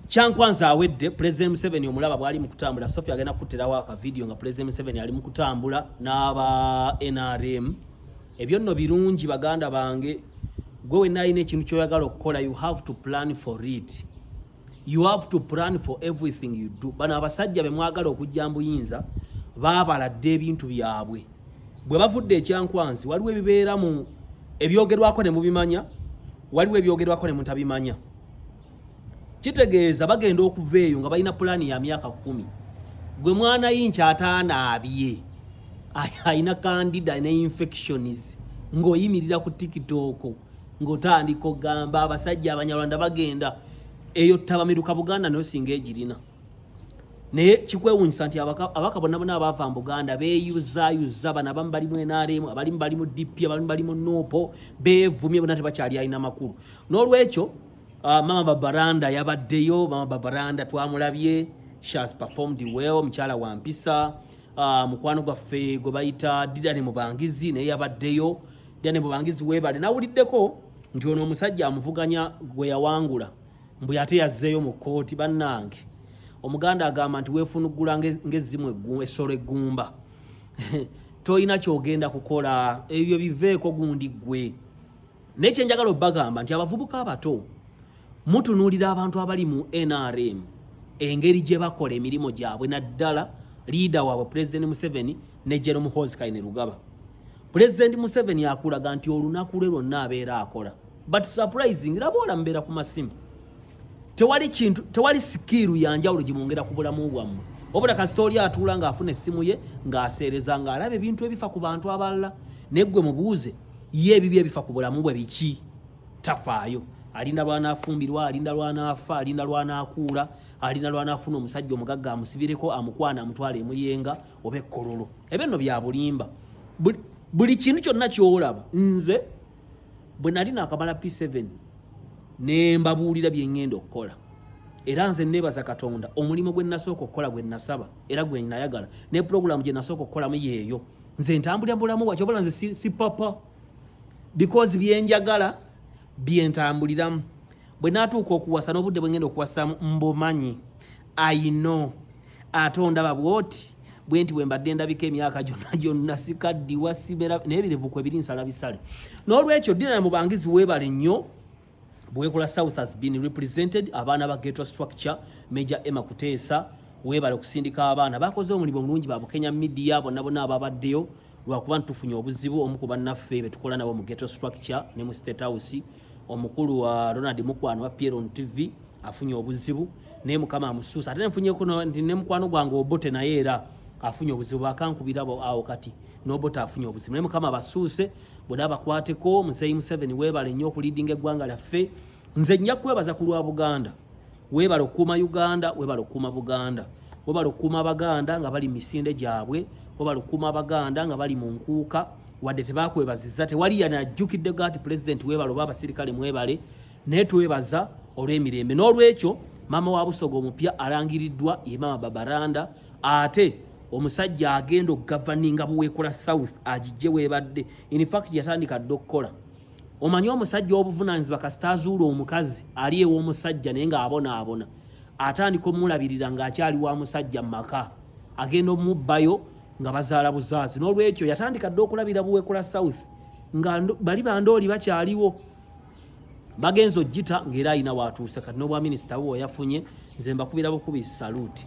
Kyankwanza awedde President Museveni omulaba bwali mu kutambula Sophie agenda kukuttirawo aka video nga President Museveni ali mu kutambula n'aba NRM ebyo nno birungi baganda bange gwe wenna alina ekintu kyoyagala okukola you have to plan for it you have to plan for everything you do bano abasajja bemwagala okujja mbuyinza baabala dda ebintu byabwe bwe bavudde ekyankwanzi waliwo ebibeera mu ebyogerwako ne mubimanya waliwo ebyogerwako ne mutabimanya kitegeeza bagenda okuva eyo nga balina pulaani ya myaka kumi gwe mwana yinki ataanaabye alina kandida ne infections ng'oyimirira ku tikitooko ng'otandika ogamba abasajja abanyarwanda bagenda eyo tabamiruka buganda nayo singa egirina naye kikwewunyisa nti abaka bonna bona abaava mu buganda beyuzayuza bano abamu bali mu nrm abalimu bali mu dp abalimu bali mu nuupo beevumye bona tebakyali alina makulu n'olwekyo Uh, mama Babaranda yabaddeyo. Mama Babaranda twamulabye, she has performed well. Mukyala wa mpisa. Uh, mukwano gwaffe gwe bayita Didane Mubangizi naye yabaddeyo. Didane Mubangizi weebale. Nawuliddeko nti ono omusajja amuvuganya gwe yawangula mbu ate yazzeeyo mu kkooti. Bannange omuganda agamba nti weefunuggula ng'ezzimu essolo eggumba tolina kyogenda kukola ebyo biveeko gundi ggwe. naye kyenjagala obagamba nti abavubuka abato mutunuulira abantu abali mu nrm engeri gye bakola emirimu gyabwe naddala liida waabwe pulezidenti museveni ne jerome hoskaine lugaba pulezidenti museveni akulaga nti olunaku lwe lwonna abeera akola but surprising laba olamubeera ku masimu tewali kintu tewali sikiiru ya njawulo gye mwongera ku bulamu bwammwe wabula kasita oli atuula ng'afuna essimu ye ng'aseereza ng'alaba ebintu ebifa ku bantu abalala naye ggwe mubuuze ye ebibi ebifa ku bulamu bwe biki tafaayo alinda lwanaafumbirwa alinda lwanaafa alinda lwanaakuula alinda lwanaafuna omusajja omugagga amusibireko amukwana amutwala emuyenga oba ekkololo ebyo nno bya bulimba buli kintu kyonna ky'olaba nze bwe nali nakamala P7 ne mbabuulira bye ngenda okukola era nze nebaza katonda omulimu gwe nasooka okukola gwe nasaba era gwe nayagala ne pulogulaamu gye nasooka okukolamu yeeyo nze ntambulira bulamu bwaki obala nze si, si papa because byenjagala byentambuliramu bwe natuuka okuwasa n'obudde bwe ngenda okuwasamu mbumanyi ayino ate ondaba bwoti bwenti bwembadde ndabika emyaka gyonna gyonna sikaddiwa sibera naye birevu kwe biri nsala bisale n'olwekyo dinana mubangizi weebale nnyo bwekola south has been represented abaana ba geto structure major emma kuteesa weebale okusindika abaana bakoze omulimu omulungi babukenya midiya bonna bonna ababaddeyo lwakuba ntufunye obuzibu omu ku bannaffe betukola nabo mu geto structure ne mu state house omukulu wa ronald mukwano wa pieron tv afunye obuzibu naye mukama amusuusa ate nenfunyeko nti ne mukwano gwange obote naye era afunye obuzibu bakankubira awo kati nobote afunye obuzibu naye mukama abasuuse bona abakwateko muzeyi museveni webale nnyo okulidinga eggwanga lyaffe nze nja kwebaza ku lwa buganda Webale okukuuma Uganda, webale okukuuma Buganda. Webale okukuuma Abaganda nga bali misinde gyabwe, webale okukuuma Abaganda nga bali mu nkuuka, wadde tebakwebaziza, tewali yana ajjukidde gati Pulezidenti webale oba abasirikale mwebale, naye twebaza olw'emirembe. N'olwekyo maama wa Busoga omupya alangiriddwa ye maama Babaranda ate omusajja agenda okugavaninga Buweekula South agijje webadde. In fact yatandika dda okukola. omanyi omusajja obuvunanyizibwa kasita azuula omukazi ali ew'omusajja naye ng'abonaabona atandika omulabirira ng'akyali wa musajja mu maka agenda omubbayo nga bazaala buzaazi n'olwekyo yatandika dde okulabira buweekula south nga bali bandooli bakyaliwo bagenza ogita ng'era alina waatuuse kati n'obwaminisita bwe yafunye nze mbakubira bukubi saluuti